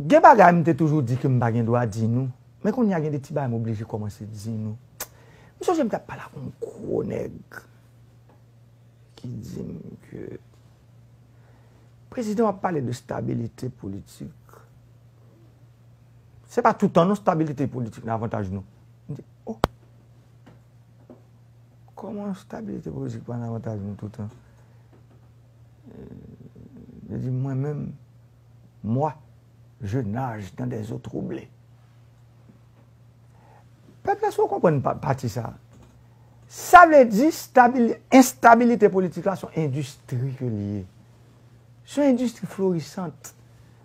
Gen bagay m te toujou di ke m pa gen dwa di nou, men kounye a gen de ti bagay m oblije kòmanse di nou. M sonje m t ap pale ak yon gwo nèg ki di m ke prezidan an ap pale de stabilite politik. Se pa toutan non stabilite politik nan avantaj nou. M di, oh! Kòman stabilite politik pa nan avantaj nou toutan? Li di, Mwen menm, moi, je nage dans des eaux troublées. Pèp la, èske ou konprann pati sa a? Sa vle di, enstabilite politik la se yon endistri ke li ye. Se yon endistri florisant.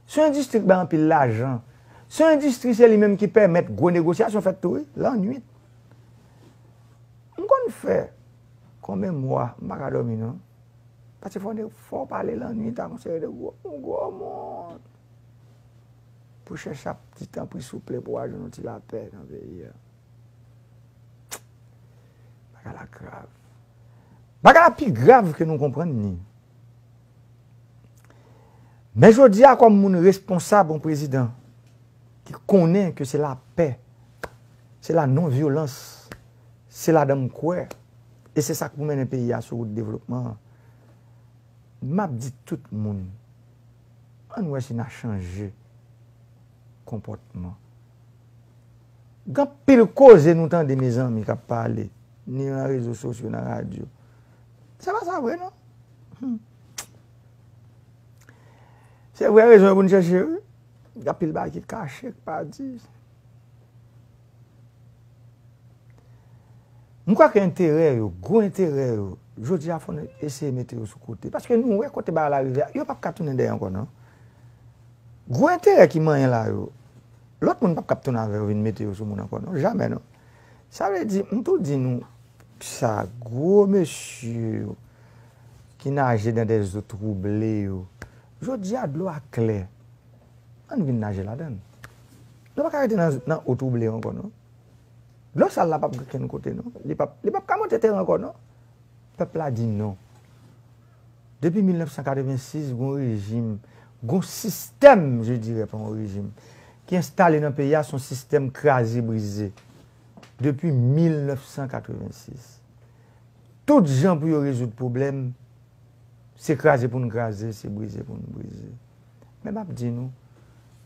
Se yon endistri ki bay anpil lajan. Se yon endistri se li menm ki pèmèt gwo negosyasyon fèt tou wi, lannwit. M konn fè Konbyen mwa m pa ka dòmi non. Paske fò nèg fò pale lannwit ak yon seri de gwo moun gwo moun pou chèche ap di tanpri souple pou wa jwenn yon ti lapè nan peyi a. Bagay la grav. Bagay la pi grav ke nou konprann ni. Men jodi a kòm moun responsab yon prezidan ki konnen ke se lapè, se la non vyolans. Se ladan m kwè, e se sa k pou mennen peyi a sou wout devlopman an. M ap di tout moun, an n wè si n a chanje konpòtman. Gen anpil koze nou tande mezanmi k ap pale, ni nan rezo sosyo, nan radyo. Se pa sa vre non. Se vrè rezon yo pou n chèche wi. Gen anpil bagay ki kache, ki pa di. M kwè ke enterè yo, gwo enterè yo, jodi a fò nou eseye mete yo sou kote. Paske nou wè kote bagay la rive a, yo pap ka tounen dèyè ankò non. Gwo enterè ki manyen la yo, lòt moun pap ka ap tounen avè yo vin mete yo sou moun ankò non, jamè non. Sa vle di, m tou di nou sa, gwo mesye yo ki naje dan dè zo twouble yo, jodi a dlo a klè. Ann vin naje ladan l. Nou pa ka rete nan eau trouble ankò non. Dlo sal la pap gen okenn kote non. Li pap ka monte teren ankò non. Pèp la di non. Depi 1986 gon rejim, gon sistèm je dirè pa yon rejim, ki enstale nan peyi a son sistèm kraze brize. Depi 1986. Tout jan pou yo rezoud pwoblèm, se kraze pou n kraze, se brize pou n brize. Men m ap di nou,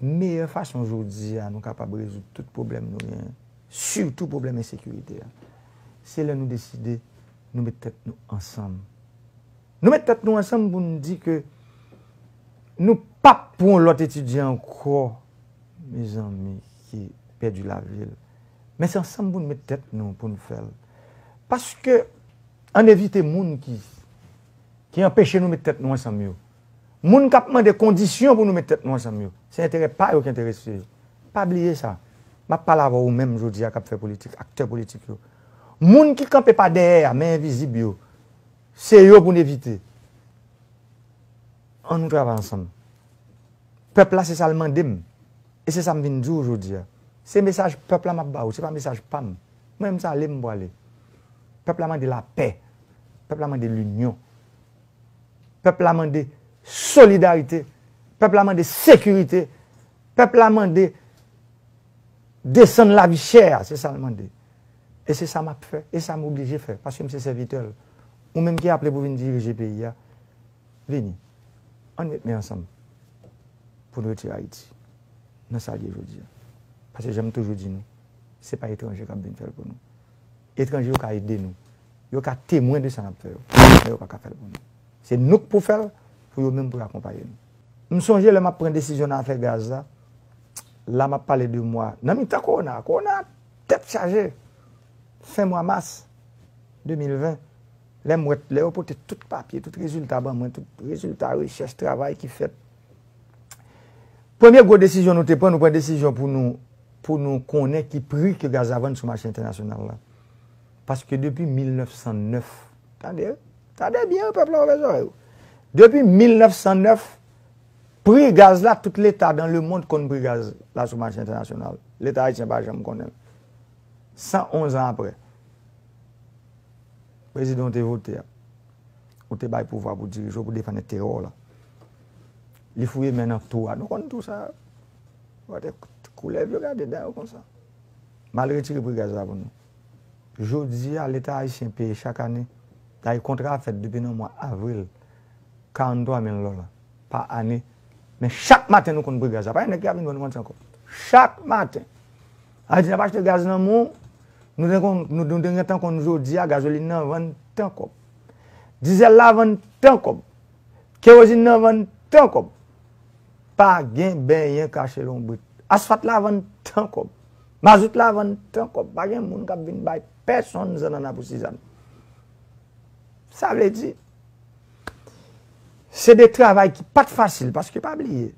meyè fason jodi a nou kapab rezoud tout pwoblèm nou genyen, sitou pwoblèm ensekirite a, se lè nou deside nou met tèt nou ansanm. Nou met tèt nou ansanm pou nou di ke nou p ap pou yon lòt etidyan ankò, mezanmi, ki pèdi lavi l. Men se ansanm pou nou met tèt nou pou nou fè l. Paske, ann evite moun ki anpeche nou met tèt nou ansanm yo. Moun k ap mande kondisyon pou nou met tèt nou ansanm yo, se enterè pa yo ki enterese yo. Pa bliye sa. M ap pale avè w ou menm jodi a k ap fè politik, aktè politik yo. Moun ki kanpe pa dèyè a, men envizib yo, se yo pou n evite. An nou travay ansanm. Pèp la se sa l mande m. E se sa m vin di w jodi a. Se mesaj pèp la m ap ba ou, se pa mesaj pa m. Mwen m sa ale m prale. Pèp la mande lapè. Pèp la mande linyon. Pèp la mande solidarite, pèp la mande sekirite, pèp la mande desann lavi chè a, se sa l mande. E se sa m ap fè, e sa m oblije fè, paske m se sèvitè l. Ou menm ki aple pou vin dirije peyi a, vini, an n met men ansanm pou n retire Ayiti nan sa l ye jodi a. Paske jan m toujou di nou, se pa etranje k ap vin fè l pou nou. Etranje yo ka ede nou. Yo ka temwen de sa n ap fè yo. Men yo pa ka fè l pou nou. Se nou k pou fè l pou yo menm pou yo akonpaye nou. M sonje lè m ap pran desizyon nan afè gaz la, la m ap pale de mwa, nan mitan kowona a, kowona a tèt chaje, fen mwa mas 2020, lè m wè, lè yo pote tout papye, tout rezilta ban mwen, tout rezilta rechèch, travay ki fèt. Premye gwo desizyon nou te pran, nou pran desizyon pou nou pou nou konnen ki pri ke gaz la vann sou mache entènasyonal la. Paske depi 1909, tande, tande byen wi pèp la ouvè zòrèy ou. Depi 1909, pri gaz la tout leta dan le mond konn pri gaz la sou mache entènasyonal. Leta ayisyen pa janm konnen. 111 an aprè, prezidan ou te vote a. ou te bay pouvwa pou dirije w pou defann enterè w lan. Li fouye men nan tou a. Nou konn tou sa a. Gade koulèv yo gade dan yo konsa. Mal retire pri gaz la pou nou. Jodi a leta ayisyen peye chak ane, dayè kontra a fèt depi nan mwa avril, 43 mil dola pa ane. Men chak maten nou konn pri gaz la. Pa gen nèg ki ap vin vann manti ankò. Chak maten. Ayiti nap achte gaz nan mou, nou te konn, nou te gentan konn jodi a gazolin nan vann tan kòb. Dizèl la vann tan kòb. Kerozin nan vann tan kòb. Pa gen benyen kache lonbrit. Asfat la vann tan kòb. Mazout la vann tan kòb. Pa gen moun kap vin bay pèsonn zannana pou sizann. Sa vle di, se de travay ki pat fasil, paske pa bliye.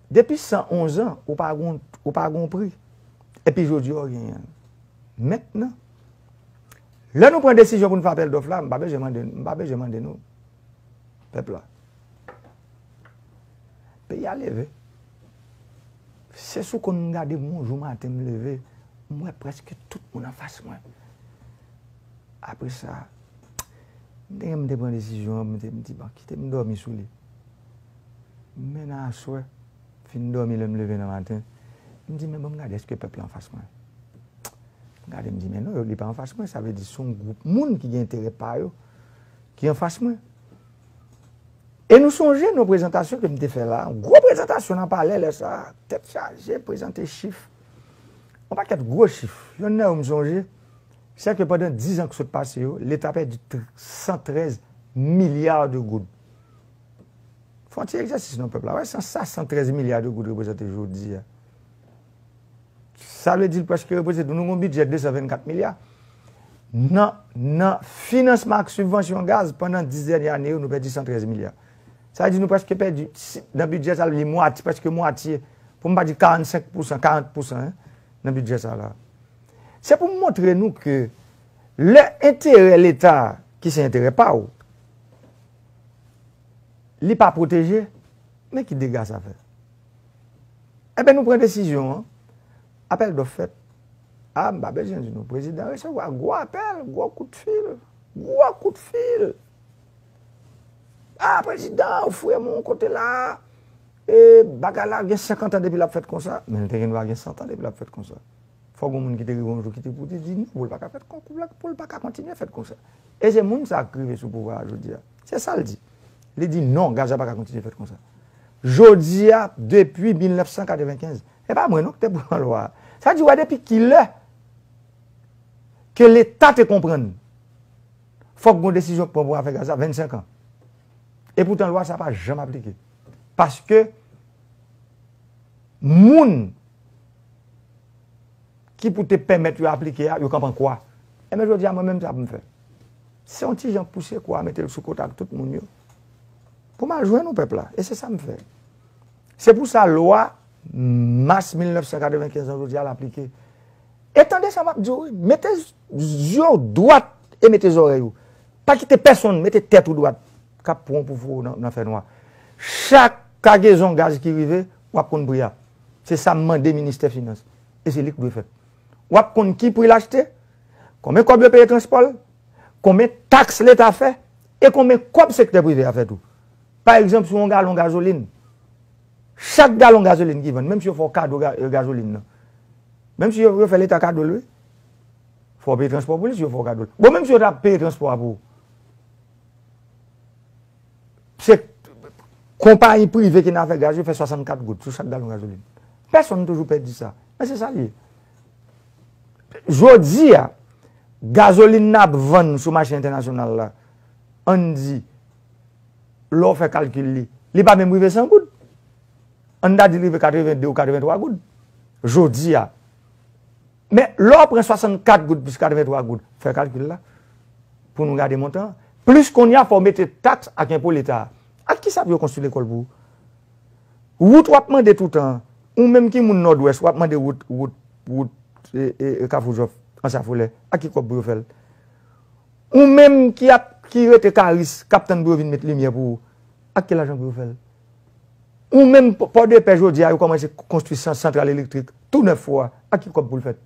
Depi 111 an, ou pa gen ou pa gen yon pri. Epi jodi a ou genyen l. Mentnan, lè nou pran desizyon pou nou fè apèl dòf la, m pa bezwen mande nou, m pa bezwen mande nou, pèp la. Peyi a leve. Se sou konn m gade m yon jou maten m leve, m wè prèske tout moun anfas mwen. Apre sa, m te gen m te pran desizyon an, m te m di bon, kite m dòmi sou li. Men nan aswè, m fin dòmi lè m leve nan maten, m di men ban m gade èske pèp la anfas mwen. M gade m di men non, li pa anfas mwen, sa vle di se yon gwoup moun ki gen enterè pa yo ki anfas mwen. E nou sonje nan prezantasyon ke m te fè la, yon gwo prezantasyon nan palè lè sa a, tèt chaje, prezante chif, yon pakèt gwo chif. Yonn nan yo m sonje, se ke pandan 10 an ki sot pase yo, Leta pèdi 113 milya de goud. Fon ti egzèsis non pèp la wè san sa 113 milya de goud reprezante jodia. Sa vle di l preske reprezante nou gon bidjè 224 milya nan nan finansman ak sibvansyon gaz pandan 10 dènye ane yo nou pèdi 113 milya. Sa vle di nou preske pèdi nan bidjè sa li mwatye preske mwatye pou m pa di 45 pousan 40 pousan nan bidjè sa la. Se pou m montre nou ke lè enterè leta ki se enterè pa w. li pa pwoteje, men ki dega sa fè. Enben nou pran desizyon an, apèl dòf fèt, a m pa bezwen di nou prezidan resevwa gwo apèl, gwo kout fil, gwo kout fil, a prezidan ou fouye moun kote la, e bagay la gen 50 an depi l ap fèt konsa, men l te gen dwa gen 100 an depi l ap fèt konsa. Fòk gen yon moun ki te rive yon jou ki te pou te di non pou l pa ka fèt konsa, pou l pa ka kontinye fèt konsa. E se moun sa k rive sou pouvwa a jodi a. Se sa l di. Li di non, Gaza pa ka kontinye fèt konsa. Jodi a, depi 1995, e pa mwen non ki te pran lwa a. Sa di wè depi ki lè ke leta te konprann fòk gon desizyon ki pran pou afè Gaza, 25 an. E poutan lwa sa pa janm aplike. Paske moun. ki pou te pèmèt yo aplike a, yo kanpe an kwa. Enben jodi a mwen menm sa pou m fè? Se yon ti jan pouse kwa a mete l sou kote ak tout moun yo pou m al jwenn nou pèp la e se sa m fè. Se pou sa lwa mas 1995 lan jodi a l aplike. E tande sa m ap di w wi, mete zye w dwat e mete zòrèy ou. Pa kite pèsonn mete tèt ou dwat k ap pran w pou fou nan fè nwa. Chak kagezon gaz ki rive, w ap konn pri a. Se sa m mande ministè finans. e se li k dwe fè. W ap konn ki pri l achte, konben kòb yo peye transpò l, konben taks leta fè e konben kòb sektè prive a fè tou. Pa egzanp sou yon galon gazolin, chak galon gazolin ki vann, menm si yo fè w kado gazolin nan, menm si yo fè leta kado l wi, fò w peye transpò pou li si yo fè w kado l. Bon menm si yo ta peye transpò a pou ou. se konpayi prive ki nan afè gaz yo fè 64 goud sou chak galon gazolin. Pèsonn toujou pè di sa. Men se sa l ye. Jodi a, gazolin n ap vann sou mache entènasyonal la, ann di, lè w fè kalkil li, li pa menm rive 100 goud. Ann ta di li rive 82 ou 83 goud. Jodi a. Men, lè w pran 64 goud plis 83 goud, fè kalkil la, pou nou gade montan an, plis kounye a fò w mete taks ak enpo Leta a. Ak ki sa pou yo konstwi lekòl pou ou? Wout w ap mande toutan an, ou menm ki moun Nòdwès, w ap mande wout, wout, wout Kafou Jòf, Anse a Folè, ak ki kòb pou yo fè l? Ou menm ki ap, ki rete Karis, k ap tann pou yo vin met limyè pou ou, ak ki lajan pou yo fè l? Ou menm Pòdepè jodi a yo kòmanse konstwi santral elektrik tou nèf fwa ak ki kòb pou l fèt?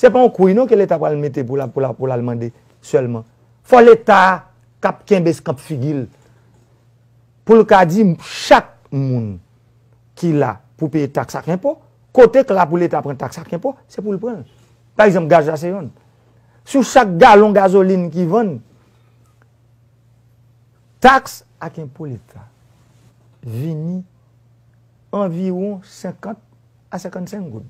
Se pa yon kouy non ke leta pral mete pou l al mande sèlman. Fò leta kap kenbe skanp figi l pou l ka di chak moun ki la pou peye taks ak enpo, kote k la pou leta pran taks ak enpo se pou l pran l. Pa egzanp gaz la se yonn. Sou chak galon gazolin ki vann. Taks ak enpo leta vini anviwon 50 a 55 goud.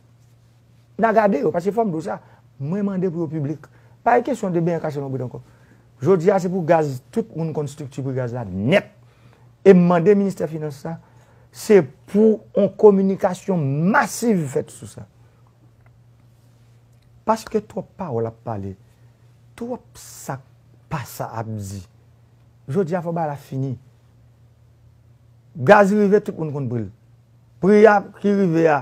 N a gade yo, paske fò m di w sa, mwen mande pou yo piblik. Pa gen kesyon de benyen kache nan bout ankò. Jodi a se pou gaz, tout moun konn estrikti pri gaz la nèt. E m mande ministè finans la, se pou yon kominikasyon masiv fèt sou sa. Paske twòp pawòl ap pale, twòp sa k pa sa ap di. Jodi a fò bagay la fini. Gaz rive tout moun konn pri l. Pri a ki rive a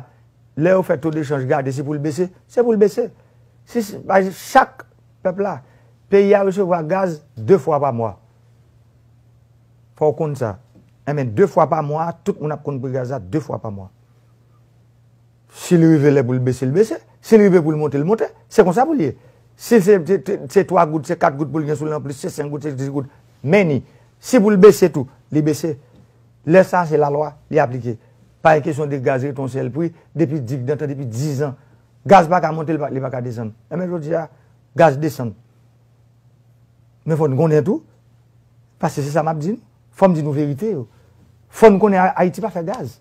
lè yo fè to de chanj gade si pou l bese, se pou l bese. Chak pèp la, peyi a resevwa gaz 2 fwa pa mwa. Fò w konn sa. Enben 2 fwa pa mwa tout moun ap konn pri gaz la 2 fwa pa mwa. Si l rive lè pou l bese l bese, si l rive pou l monte l monte. Se konsa pou l ye. Si se se 3 goud, se 4 goud pou l gen sou li anplis, se 5 goud, se 10 goud. Men ni. Si pou l bese tou, li bese. Lè sa a se lalwa, li aplike. Pa gen kesyon de gaz rete yon sèl pri depi digdantan, depi dizan. Gaz pa ka monte, li pa ka desann. Enben jodi a, gaz desann. Men fò n konnen tou, paske se sa m ap di nou, fò m di nou verite yo. Fò n konnen Ayiti pa fè gaz.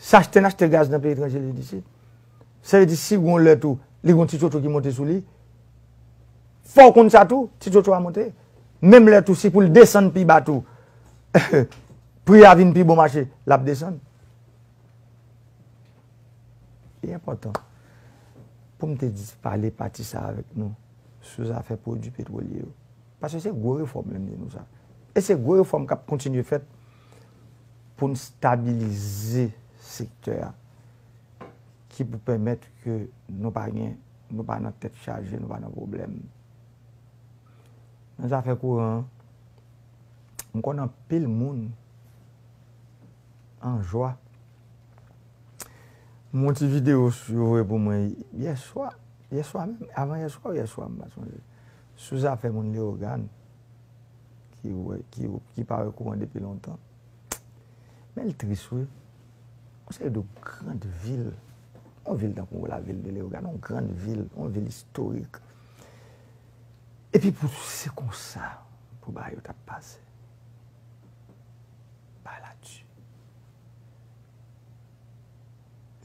Si achte n achte gaz nan peyi etranje li disit, sa vle di si gon lè tou li gon ti tchotcho ki monte sou li, fò w konn sa tou, ti tchotcho a monte. Menm lè tou si pou l desann pi ba tou, pri a vin pi bon mache, l ap desann. Li enpòtan pou m te pale pati sa a avèk nou sou zafè pwodui petwolye yo. Paske se gwo refòm lè m di nou sa. E se gwo refòm k ap kontinye fèt. pou n stabilize sektè a, ki pou pèmèt ke nou pa gen, nou pa nan tèt chaje, nou pa nan pwoblèm. Nan zafè kouran an, m konn anpil moun an jwa. M wè yon ti videyo yo voye pou mwen yè swa, yè swa menm, avan yè swa ou yè swa m pa sonje. Sou zafè moun Leogane ki pa wè kouran depi lontan, men li tris wi, yon seri de grand vil, yon vil tankou la vil de Leogane, yon grand vil, yon vil istorik, epi pou se konsa pou bagay yo tap pase. Bagay la di.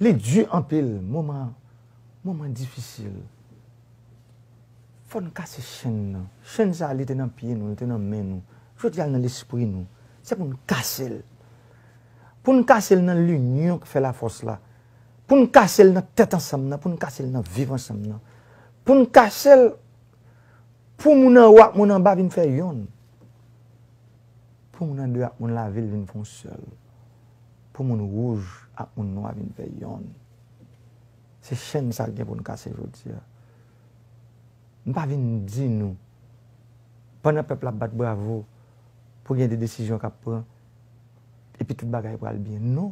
Li di anpil, moman. Moman difisil. Fò n kase chenn nan. Chenn sa li te nan pye nou, li te nan men nou. Jodi a l nan lespri nou. Se pou n kase l. Pou n kase l nan linyon k fè lafòs la. Pou n kase l nan tèt ansanm nan. Pou n kase l nan viv ansanm nan. Pou n kase l pou moun anwo ak moun anba vin fè yonn. Pou moun andeyò ak moun lavil vin fon sèl. Pou moun wouj ak moun nwa vin fè yonn. Se chenn sa l gen pou n kase jodi a. M pa vin di nou, pandan pèp la ap bat bravo pou gen de desizyon k ap pran, epi tout bagay pral byen. Non!